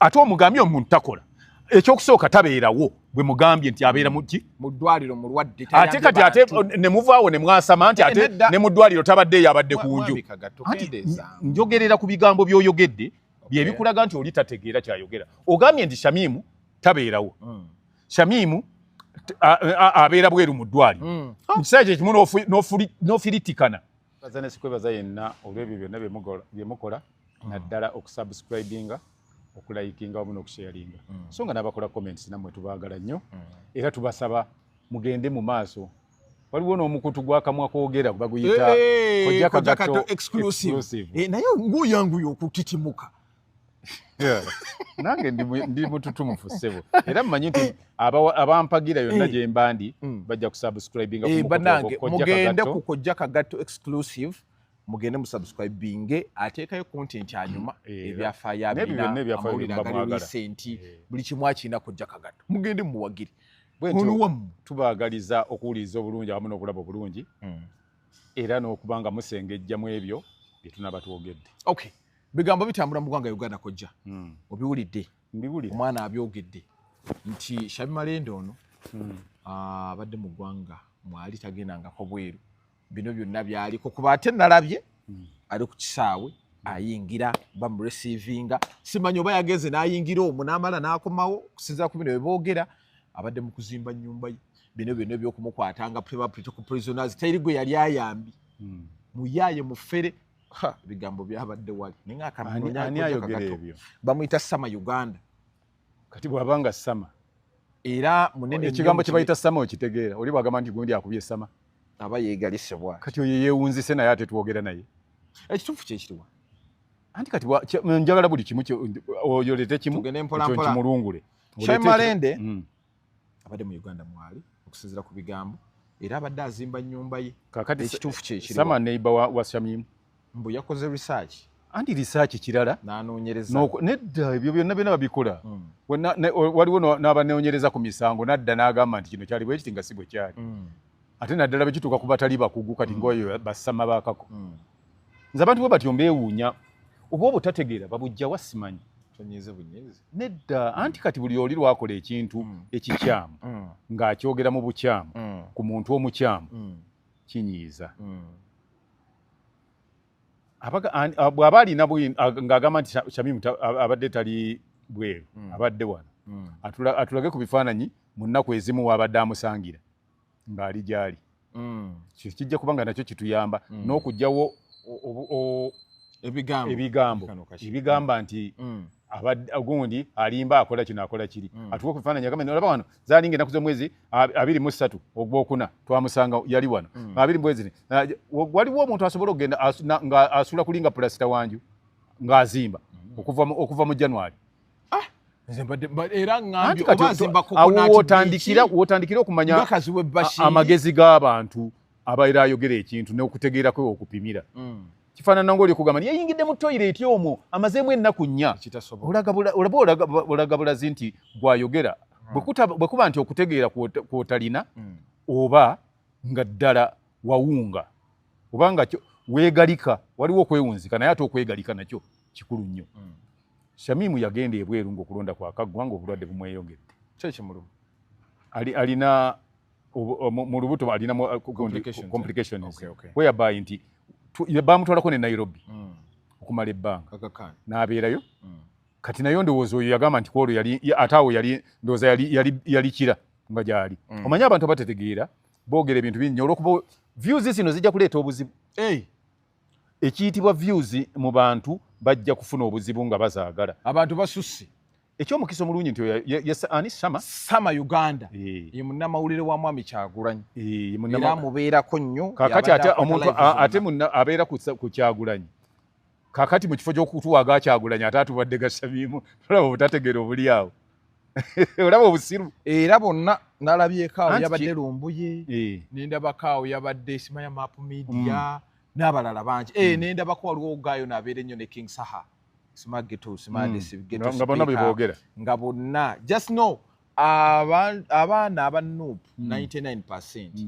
ate omugambye omuntu takola ekyokusooka tabeerawo bwe mugambye nti abeera mm. muki mu ddwaliro mulwadde ate kati ate ne muvaawo ne mwasama nti eh, ate ne mu ddwaliro tabadde eyo abadde ku nju njogerera ku bigambo by'oyogedde bye bikulaga nti oli tategeera kyayogera ogambye nti shamimu tabeerawo mm. shamimu abeera bweru mu ddwaliro mm. mu kiseera kyekimu n'ofiritikana baza nesikwebaza yenna olwebyo byonna byemukola mm. naddala okusubscribinga okulayikinga wamu nokusharinga mm. so nga nabakola comments namwe tubagala nnyo mm. era tubasaba mugende mu maaso waliwo n'omukutu gwakamwa kwogera baguyita eh, eh, kojakato exclusive eh, naye nguyanguya okutitimuka nange ndi mututumufu ssebo era mumanyi nti abampagira yonna eh. gyemba ndi hmm. bajja kusubscribinga eh, banange mugende ku kojja kagatto exclusive mugende musubscribinge ateekayo content anyuma hmm. eh, ebyafaayo abinaamawulire agali recenti buli kimu akirina kojja kagatto mugende muwagire oluwamu tubaagaliza okuwuliriza obulungi awamu n'okulaba obulungi hmm. era n'okuba nga musengejjamu ebyo bye tunaba twogedde okay bigambo bitambula mu ggwanga uganda kojja hmm. obiwulidde omwana abyogedde nti shabi malende ono hmm. ah, abadde mu ggwanga mwali tagendangako bweru bino byonna byaliko kuba ate nalabye hmm. ali ku kisaawe ayingira bamuresivinga simanyi oba yageze nayingira omu namala nakomawo okusinzira ku bino weboogera abadde mu kuzimba nyumba ye bino byonna ebyokumukwatanga ku prisoners teri gwe yali ayambi muyaye mufere ebigambo byabadde wali ani ayogera ebyo bamuyita sama uganda kati bwaba nga sama era munene ekigambo kyebayita sama okitegeera oli bwagamba nti gundi akubye sama aba yegalisebwa kati oyo yewunzise naye ate twogera naye ekituufu kyekiriwa anti kati njagala buli kimu oyolete kimu kimulungule shemalende mm. abadde mu uganda mwali okusinzira ku bigambo era abadde azimba nyumba ye kakati ekituufu kyekisama neiba wa, wa shamimu mbu yakoze research anti research kirala nanonyereza nedda ebyo byonna byona babikola mm. waliwo nabanonyereza ku misango nadda nagamba nti kino kyali bwekiti nga si bwe kyali mm. ate naddala bwekituuka ku batali bakugu kati mm. ngaoyo basama bakako mm. nze abantu bwe batyo mbeewuunya oba obutategeera babujja wasimanyi tonyize bunyezi nedda anti kati buli oli lwakola ekintu mm. ekikyamu mm. ng'akyogera mu bukyamu mm. ku muntu omukyamu mm. kinyiiza mm. bw'aba alina ng'agamba nti shamimu abadde tali bweru mm. abadde wano mm. atulage ku bifaananyi mu nnaku ezimu waabadde amusangira ng'ali gy'ali mm. kijja kuba nga nakyo kituyamba mm. n'okugyawo ebigambo ebigambo ebigamba nti mm. gundi alimba akola kino akola kiri mm. atuka ku bifaananyi agamba olaba wano zalinga enaku z'omwezi abiri mu ssatu ogwokuna twamusanga yali wano mm. abiri mwezi waliwo omuntu asobola okugenda nga asula kulinga pulasita wanju ng'azimba okuva mu january ah, wotandikira okumanya amagezi g'abantu abaera ayogera ekintu n'okutegeera kwe okupimira mm. kifaanana ngaoli okugamba yeyingidde mu toyireti omwo amazeemu ennaku nnya olaga bulazi nti gwayogera mm. bwe kuba nti okutegeera kwotalina mm. oba nga ddala wawunga oba nga weegalika waliwo okwewunzika naye ate okwegalika nakyo kikulu nnyo mm. shamimu yagenda ebweru ngaokulonda kwakaggwa ngaobulwadde bumweyongedde kyekimuluma alina mu lubuto alina uh, complications whereby nti bamutwalako ne nairobi mm. okumala ebbanga n'abeerayo mm. kati nayo ndowooza oyo yagamba nti kwolwo ate awo yali ndowooza yali kira nga gyali omanyi abantu abatetegeera boogera ebintu bingi olwokuba views zino zijja kuleeta obuzibu ekiyitibwa views mu bantu bajja kufuna obuzibu nga bazaagala abantu basusse ekyomukisa omulungi nti ani sama sama uganda eh. ye munnamawulire wa mwami kyagulanyi eh, era amubeerako nnyo kakati ate omuntu ate abeera ku kyagulanyi kakati mu kifo ky'okutuwaga kyagulanyi ate atubadde gasamiimu tolaba obutategeera obuli awo olaba obusiru era bonna nalabyeko awo yabadde lumbuye eh. nendabako awo yabadde simaya map media mm. n'abalala bangi eh, mm. nendabako waliwo ogaayo nabeera ennyo ne king saha simagetosimadesigetospknga mm. bonna just know abaana aba nup 99 percent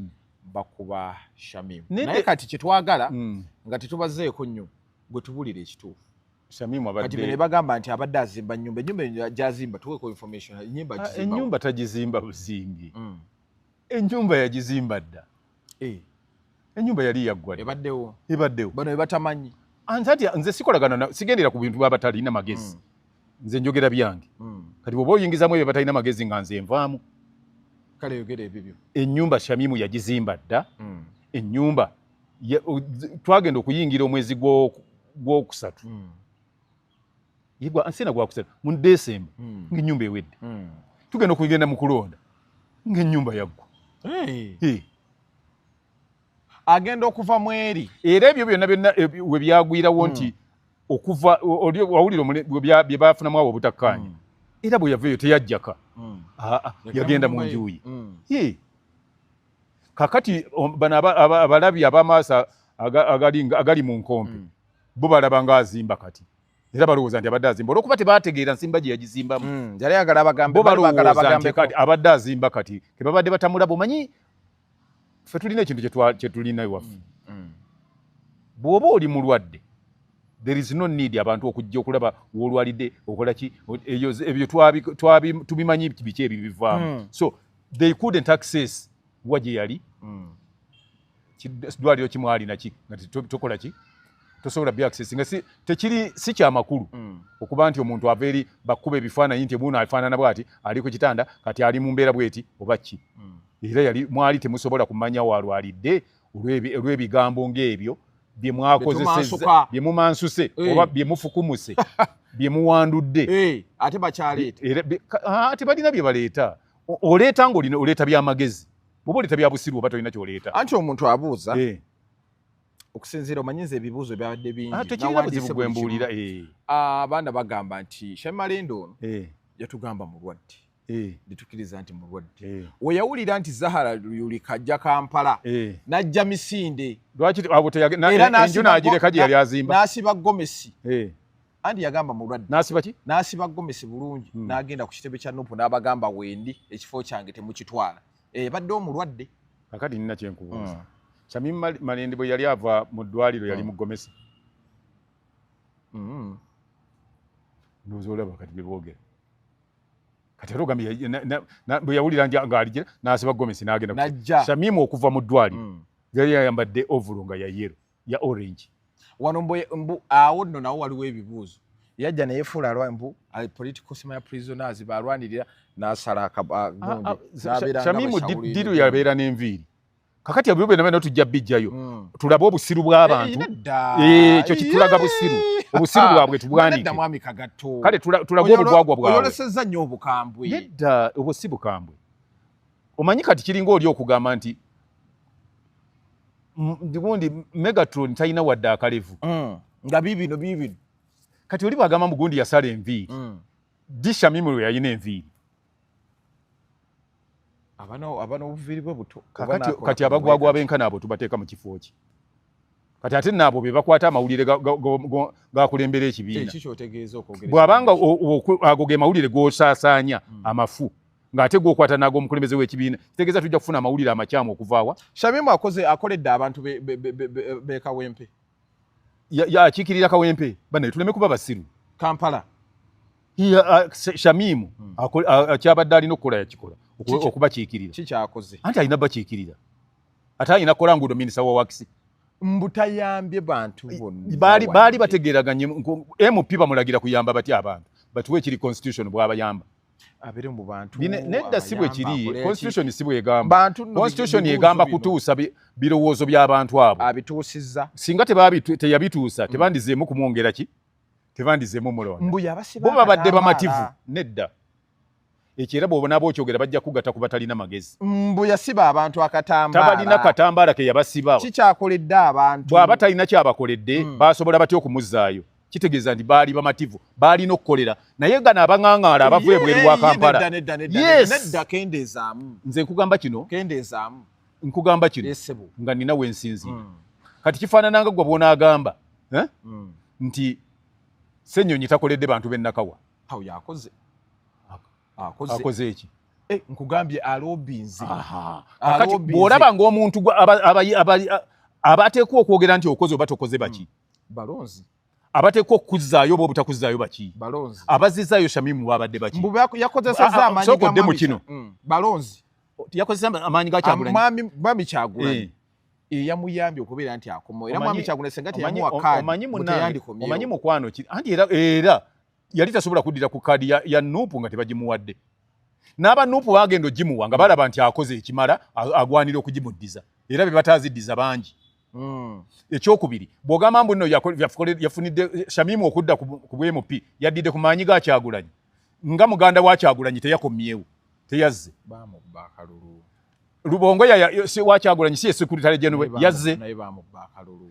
bakuba shamim naye kati kyetwagala nga tetubazeeko nnyo gwe tubulira ekituufu kati bino bagamba nti abadde azimba nyumba enyumba gyazimba tuweko information enyumba ah, agizimba enyumba tagizimba buzimbi mm. enyumba yagizimba dda eh. enyumba yali yaggwa ebaddewo ebaddewo bano bebatamanyi anzati ah, nze sikolagana sigendera ku bintu babatalina magezi mm. nze njogera byange mm. kati bwoba oyingizamu ebyo batalina magezi nga nze nvaamu kale yogera ebibyo enyumba shamimu yagizimba dda enyumba twagenda okuyingira omwezi gwokusatu hmm. ansina gwakusatu mu desemba hmm. ngaenyumba ewedde hmm. tugenda okugenda mu kulonda ngaenyumba yaggwa agenda okuva mweri era ebyo byonna byonna eh, we byagwirawo nti okuva wawulira bye bafunamu awo obutakkaanya era bwe yava eyo teyajjaka yagenda mu njuyi kakati um, bano abalabi abamaaso agali mu nkompe mm. bo balaba nga azimba kati era balowooza nti abadde azimba olwokuba tebategeera nsimba gye yagizimbamu mm, bo balowooza nti abadde azimba kati kebabadde batamulaba omanyi fe tulina ekintu kyetulina iwaffe mm, bw'oba oli mulwadde there is no need abantu okujja okulaba wolwalidde okolaki ebyo tubimanyi biki ebyo bivaamu so they couldn't access wa gye yali mm. dwaliro kimwalina ki nga tokola ki tosobola bi access nga si tekiri si kya makulu mm. okuba nti omuntu ava eri bakuba ebifaananyi nti ebuuno afaanana bwati ali ku kitanda kati ali mu mbeera bweti oba ki mm. era yali mwali temusobola kumanya waalwalidde olw'ebigambo ng'ebyo bye mwakozeseza bye mumansuse hey. Eh. oba bye mufukumuse bye muwandudde hey. Eh, ate bakyaleeta ate balina bye baleeta oleeta nga oleeta byamagezi oba oleeta byabusiru oba tolina kyoleeta anti omuntu abuuza eh. okusinziira omanyiza ebibuuzo byabadde bingibwembuulira ah, eh. ah, abaana bagamba nti shamalendo ono eh. yatugamba mulwadde netukiriza nti mulwadde weyawulira nti zahara yulika ajja kampala najja misinde era nasiba gomesi anti yagamba mulwadde nasiba ki nasiba gomesi bulungi hmm. nagenda ku kitebe kya nupu n'abagamba wendi ekifo kyange temukitwala ebadde eh, omulwadde kakati nina kyenkubuuza hmm. sami malende bwe yali ava mu ddwaliro yali hmm. mu gomesi ndoza olaba kati byebogera kati era ogambye bwe yawulira ng'aligira nasiba gomesi nagenda shamimu okuva mu ddwaliro yali yayambadde ovulo nga yayero ya orange wano mbu mbu awo no nawo waliwo ebibuuzo yajja naye fula alwa mbu ali political sima ya prisoners ba alwanirira nasala akabundi ah, ah, zabira shamimu diru ya bera nenviri kakati abuyo bena bena tujja bijjayo mm. tulaba obusiru bwa eh, abantu eh kyo kitulaga busiru obusiru bwabwe tubwani nda mwami kagato kale tulaba obugwagwa bwabwe yoleseza nyo obukambwe nedda obusibu kambwe omanyi kati kiringa oli okugamba nti gundi megatron talina wadde akalevu mm. nga bibino bibino kati oli bwagamba mbu gundi yasala enviiri mm. disha mimiro yalina enviiri abana obuviiri bwe buto kati abagwagwa benkana abo tubateeka mu kifo ki kati ate naabo be bakwata amawulire gakulembera ekibiina bwabanga ago ge mawulire gosaasaanya mm. amafu ng'ate gwokwata naago omukulembeze w'ekibiina kitegeeza tujja kufuna amawulire amakyamu okuvaawa shamimu akoze akoledde abantu be kawempe yakiikirira kawempe banaye tuleme kuba basiru kampala uh, shamimu hmm. akyabadde alina okukola yakikola okubakiikirira kikyakoze anti alina bakiikirira ate alina kukola nguudo minisita wa wakisi mbutayambye bantu bonna baali bategeeraganye mp bamulagira kuyamba batya abantu batuwe ekiri constitution bwabayamba abere mu bantu nedda si bwe kiri constitution si bwegamba constitution egamba kutuusa birowoozo by'abantu abo abituusizza singa teyabituusa mm. tebandizeemu kumwongera ki tebandizeemu mulondaboba babadde bamativu nedda ekyo era bwobonaba okyogera bajja kugata ku batalina magezi mbu yasiba abantu akatambaalatabalina katambaala ke yabasiba kikyakoledde abantu bw'aba talina kyabakoledde mm. basobola batya okumuzzaayo kitegeeza nti baali bamativu baalina okukolera naye gano abang'ang'aala abava ebweru wa kampala nze nkugamba kino nkugamba kino nga nina wensinzira hmm. kati kifaanananga gwe bwonaagamba eh? hmm. nti senyonyi takoledde bantu benakawa akoze eki eh, nkugambye alobinze bwolaba ngaomuntu abateekwa okwogera nti okoze oba tokoze baki hmm. balonzi abateekwa okukuzzaayo oba obutakuzzaayo baki abazizzaayo shamimu babadde bakiyakozesezaamanyisokodde mu kino mm. balonzi yakozesa amaanyi ga kyagulanyi kyagulanyi eh. eyamuyambye okubeera nti akomawo era mwami kyagulanyi senga teyamuwa kaadi omanyi mukwano ki anti era era yali tasobola kuddira ku kaadi ya, ya nupu nga tebagimuwadde n'aba nupu bagenda ogimuwa nga balaba nti akoze ekimala agwanira okugimuddiza era be bataaziddiza bangi Mm. ekyokubiri bwogamba mbu no yafunidde eh, shamimu okudda ku bmp yaddidde ku maanyi ga kyagulanyi nga muganda wa kyagulanyi teyakomyewo teyazze lubongo wakyagulanyi si esekuritalegyenwe yazze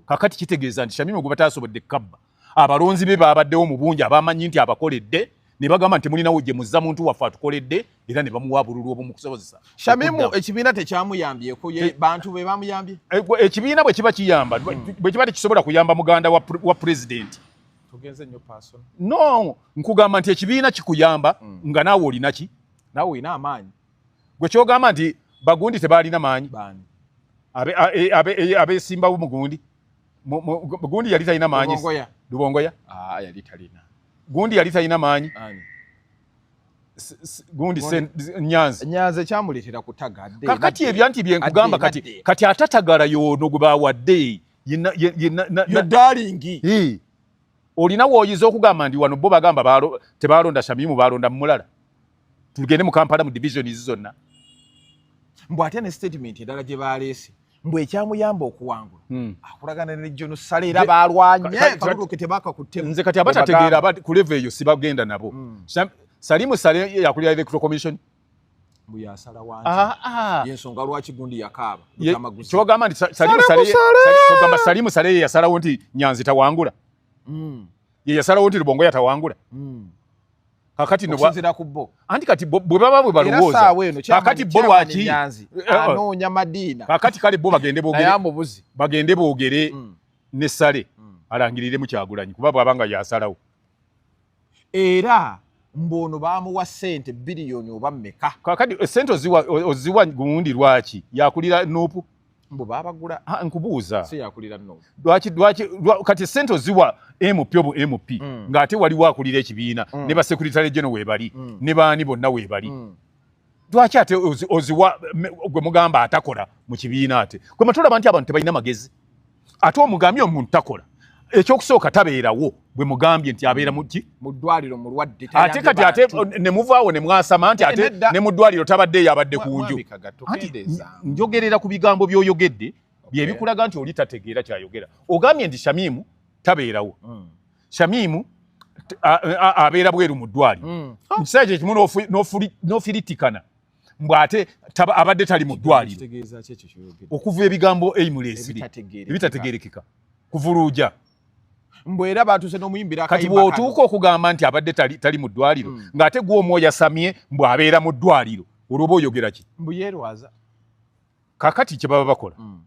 kakati kitegeeza nti shamimu gwe bataasobodde kabba abalonzi be baabaddewo mu bungi abamanyi nti abakoledde ne bagamba nti mulinawo gye muzza muntu waffe atukoledde era ne bamuwa bululu obumukusobozesa shamimu ekibiina tekyamuyambyeko bantu be bamuyambye eh, ekibiina bwe kiba kiyamba hmm. bwe kiba tekisobola kuyamba muganda wa pulezidenti no nkugamba nti ekibiina kikuyamba hmm. nga naawe olinaki naawe olina amaanyi gwe kyogamba nti bagundi tebaalina maanyi abesimbawo e, e, mugundi gundi yali talina maanyi lubongoya ah, yali talina gundi yali talina maanyi gundi nyanzi nyanzi ekyamuleetera kutagadde kakati ebyanti byenkugamba kati kati atatagala yoono gwe bawadde yedalingi olina wooyiza okugamba ndi wano bo bagamba tebaalonda shamimu baalonda mumulala tugende mu kampala mu divisions zonna mbu ate ne statement endala gye baaleese mbu ekyamuyamba okuwangula hmm. akulagana ne jono sala era balwanyenze kati abatategeera ku leve eyo sibagenda nabo hmm. salimu sale yakulira electoral commission kyogamba nti salimu sale yeyasalawo nti nyanzi tawangula hmm. yeyasalawo nti lubongo yatawangula kakati no bwazira ku bo anti kati bwe baba bwe balowooza kakati bo lwaki eh, eh. anoonya madiina kakati kale bo bagende boogere bagende boogere mm. ne sale mm. alangirire mu kyagulanyi kuba bwaba nga yasalawo era mbono bamuwa sente biliyoni oba meka kakati eh, sente oziwa oziwa gundi lwaki yakulira nupu mbu babagula ah, nkubuuza siyakulira no lwaki lwaki kati sente oziwa MP obo MP mm. ng'ate waliwo akulira ekibiina mm. ne basekuritale geno weebali mm. ne baani bonna weebali mm. lwaki ate oziwa gwe mugamba atakola mu kibiina ate gwe matulaba nti abantu tebalina magezi ate omugambye omuntu takola ekyokusooka tabeerawo bwe mugambye nti abeera muki mu ddwaliro mulwadde ate kati ate ne muvaawo ne mwasama nti ate ne mu ddwaliro tabadde eyo abadde ku nju njogerera ku bigambo by'oyogedde bye bikulaga nti oli tategeera kyayogera ogambye nti shamimu tabeerawo hmm. shamimu abeera bweru mu ddwaliro hmm. mu kiseera kyekimu n'ofiritikana mbu ate abadde tali mu ddwaliro okuva ebigambo eimuleesiri ebitategerekeka kuvuluuja mbu era batuuse n'omuyimbira kati bw'otuuka okugamba nti abadde tali mu ddwaliro hmm. ng'ate gwe omwoyo asamye mbu abeera mu ddwaliro olwoba oyogera ki mbu yeerwaza kakati kye baba bakola hmm.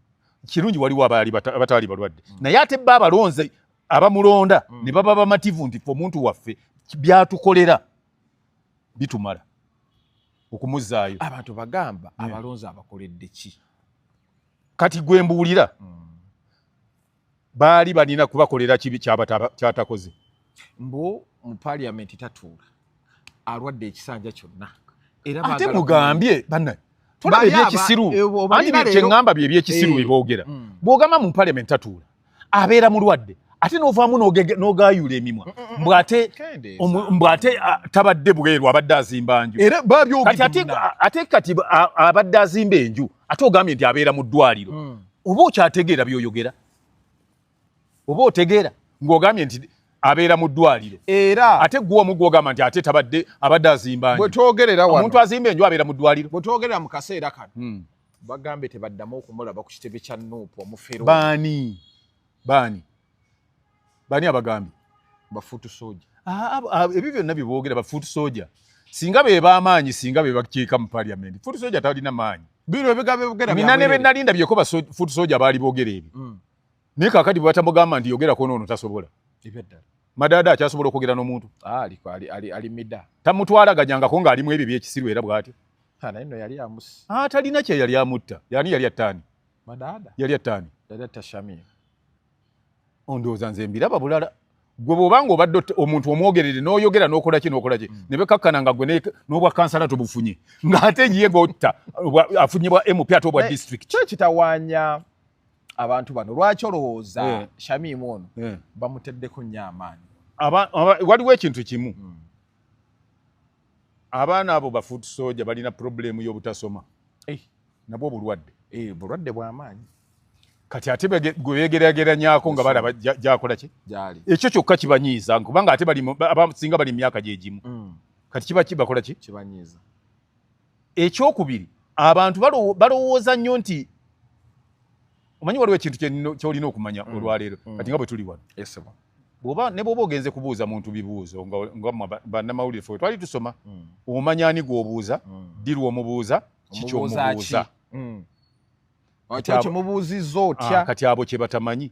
kirungi waliwo abaali abataali balwadde hmm. naye ate bba abalonze abamulonda ne baba bamativu nti fe omuntu waffe byatukolera bitumala okumuzaayo abantu bagamba hmm. abalonzi abakoledde ki kati gwe mbuulira hmm. baali balina kubakolera kibi kyatakoze mbu mu paliamenti tatuula alwadde ekisanja kyonna ate mugambye banna tolaba ebyekisiru eh, anti kyeŋŋamba bye ebyekisiru eh. bye boogera hmm. bw'ogamba mu paliamenti tatuula abeera mulwadde ate novaamu nogayula emimwa mm, mm, mm, mbwate mbwate tabadde bweru abadde azimba nju ate kati abadde azimba enju ate ogambye nti abeera mu ddwaliro hmm. oba okyategeera byoyogera oba otegeera ng'ogambye nti abeera mu ddwaliro era ate gwe omu gwogamba nti ate tabadde abadde azimba nju omuntu azimba enju abeera mu ddwaliro bwetwogerera mu kaseera kano hmm. bagambye tebaddamu okumulaba ku kitebe kya nuupu omufero baani baani baani abagambye bafuutu soja ah, ah, ah, ebyo byonna byeboogera bafuutu soja singa be bamaanyi singa be bakiika mu paliamenti fuutu soja talina maanyi bino ebigambo ebigera mina ne benalinda byeko ba fuutu soja baali boogera ebyo mm. naye kakati bwebatamugamba nti yogerako noono tasobola ebyaddala madaada akyasobola okwogera n'omuntu ah, alimida tamutwalaganyangako ng'alimu ebyo byekisiru era bwatyo ah, naye no yali amusi ah, talina kye yali amutta yani yali attaani madaada yali attaani dada tashamia ondowooza nze mbiraba bulala gwe bwoba nga obadde omuntu omwogerere n'oyogera n'okola ki n'okola ki mm. ne bekakkana nga gwe n'obwa kansala tobufunye ng'ate ye ng'otta afunye bwa mp ate obwa disitulikiti kyo kitawaanya abantu bano lwaki olowooza yeah. shamimu ono yeah. bamuteddeko nnyo amaanyi waliwo ekintu kimu mm. abaana abo bafuut soja balina problemu y'obutasoma hey. Eh. nabwo obulwadde hey, eh, bulwadde bwamaanyi kati ate gwebegerageranyako nga balaba gyakola ki ekyo kyokka kibanyiiza kubanga ate singa bali mu myaka gyegimu mm. kati kiba kibakola ki kibanyiiza ekyokubiri abantu balowooza nnyo nti omanyi waliwo ekintu kyolina okumanya mm. olwaleero mm. kati nga bwe tuli wano bwoba ne bwoba ogenze kubuuza muntu bibuuzo nga bannamawulire fe twali tusoma mm. omanya ani gwobuuza dirwa omubuuza kikyomubuuza kati abo kyebatamanyi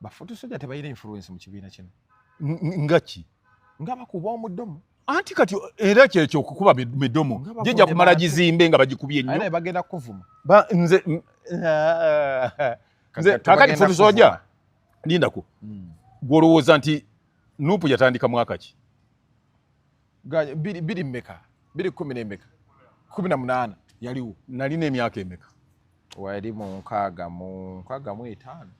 bafutu soja tebayira influence mu kibiina kino nga ki nga bakuba omudomo anti kati era kyekyo okukuba midomo jija kumala gizimbe nga bagikubye nnyo bagenda kuvuma nze kakati futu soja lindako hmm. gwolowooza nti nupu yatandika mwaka ki biri biri meka biri kumi n'emeka kumi na munaana yaliwo nalina emyaka emeka wali mu nkaaga mu nkaaga mu etaano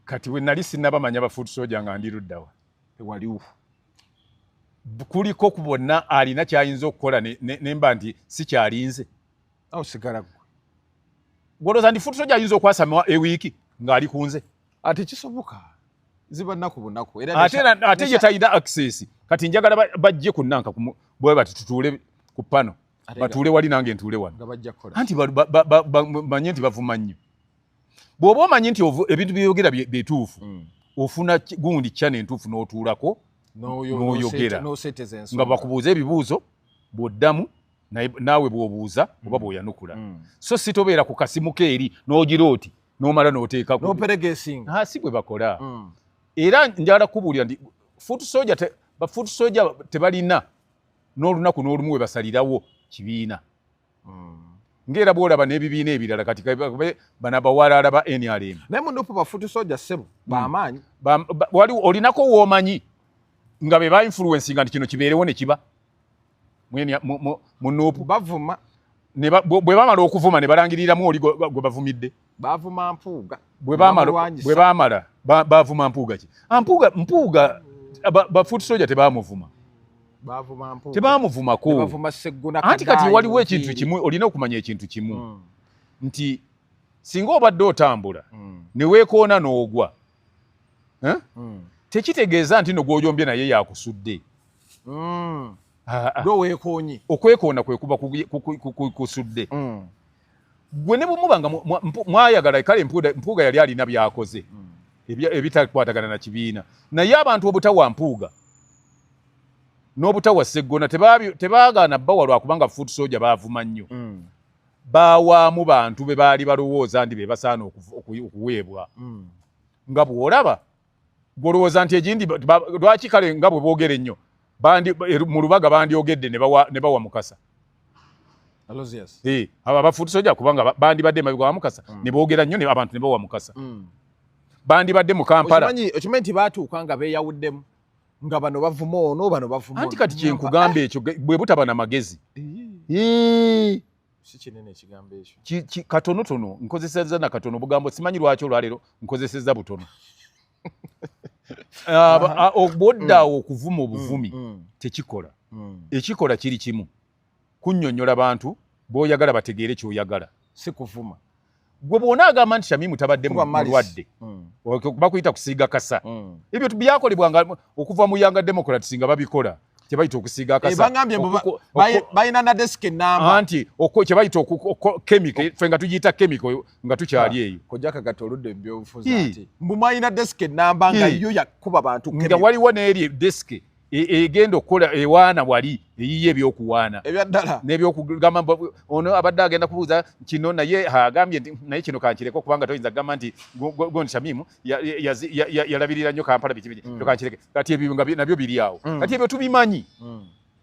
kati we nali sinabamanya ba food soja nga ndi luddawa tewaliwo kuliko ku bonna alina kyayinza okukola nemba nti sikyalinze awo sigala gwe gwolooza ndi food soja ayinza okwasama ewiiki ng'ali ku nze ate kisoboka ziba naku bunaku era ate ate ye tayina access kati njagala bajje ku nanka bwe bati tutuule ku pano batuule wali nange ntuule wano anti bamanye nti bavuma nnyo bw'oba omanyi nti ebintu byeyogera byetuufu mm. ofuna gundi kyana entuufu n'otuulako n'oyogera nga bakubuuza ebibuuzo bw'oddamu naawe bw'obuuza oba mm. bw'oyanukula mm. so si tobeera ku kasimu keeri n'ogira oti nomala noteekako noperegesinga ha si bwe bakola mm. era njala kubuulira ndi foot soja te, ba foot soja tebalina n'olunaku n'olumu we basalirawo kibiina mm. ngera bwolaba n'ebibiina ebirala kati bana bawalaala ba nrm naye munupu bafuti soja ssebo hmm. bamaanyi wali olinako woomanyi nga be ba influensi nga nti kino kibeerewo ne kiba mu nuupu bavuma bwe bamala okuvuma ne balangiriramu oli gwe bavumidde bavuma mpuuga bwe bamala bavuma mpuuga ki ah, mpuuga mpuuga bafuuti soja tebamuvuma tebamuvumako anti kati waliwo ekintu kimu olina okumanya ekintu kimu hmm. nti singa obadde otambula hmm. ne weekoona n'ogwa eh? hmm. tekitegeeza nti no gwojombye naye yakusudde mm. ah, ah. gwe weekoonye okwekoona kwe kuba kusudde mm. gwe ne bumuba nga mwayagala kale mpuuga yali alina byakoze mm. ebitakwatagana na kibiina naye abantu obutawa mpuuga n'obutawa seggona tebaagaana bawa lwakubanga foot soja baavuma nnyo mm. bawaamu bantu be baali balowooza ndi be basaana okuweebwa mm. nga bw'olaba gwolowooza nti egindi lwaki kale nga bwe boogera ennyo er, mu lubaga bandyogedde ne bawa mukasa eh, abo abafuuti soja kubanga bandibadde emabega wa mukasa mm. ne boogera nnyo abantu ne bawa mukasa mm. bandibadde mu kampala okimanyi nti baatuuka nga beeyawuddemu nga bano bavuma ono bano bavuma anti kati kyenkugamba ekyo bwe butaba na magezi katonotono nkozeseza nakatono obugambo simanyi lwaki olwaleero nkozeseza butono obwoddaawo mm. okuvuma mm, obuvumi mm. tekikola ekikola kiri kimu kunyonyola bantu boyagala bategeere kyoyagala sikuvuma gwe bwona agamba nti shamimu tabadde mulwadde mm. bakuyita kusiiga kasa mm. ebyo byakolebwa nga okuva mu yanga democrats nga babikola kyebayita okusiiga akasabalina eh, nadesika enamba nti kyebayita kemiko fe nga tugiyita kemiko nga tukyali ah, eyo kojakagata oludda ebyobufuzi ati mbu mwalina desika enamba nga yo yakuba bantu nga waliwo neeri desike e, egenda okukola ewaana wali eyiye ebyokuwaana ebyaddala nebyokugamba ono abadde agenda kubuuza kino naye agambye nti naye kino kankireke okubanga toyinza kugamba nti gondi shamimu yalabirira nnyo kampala biki biki mm. kankireke kati ebyo nabyo biri awo mm. kati ebyo tubimanyi mm.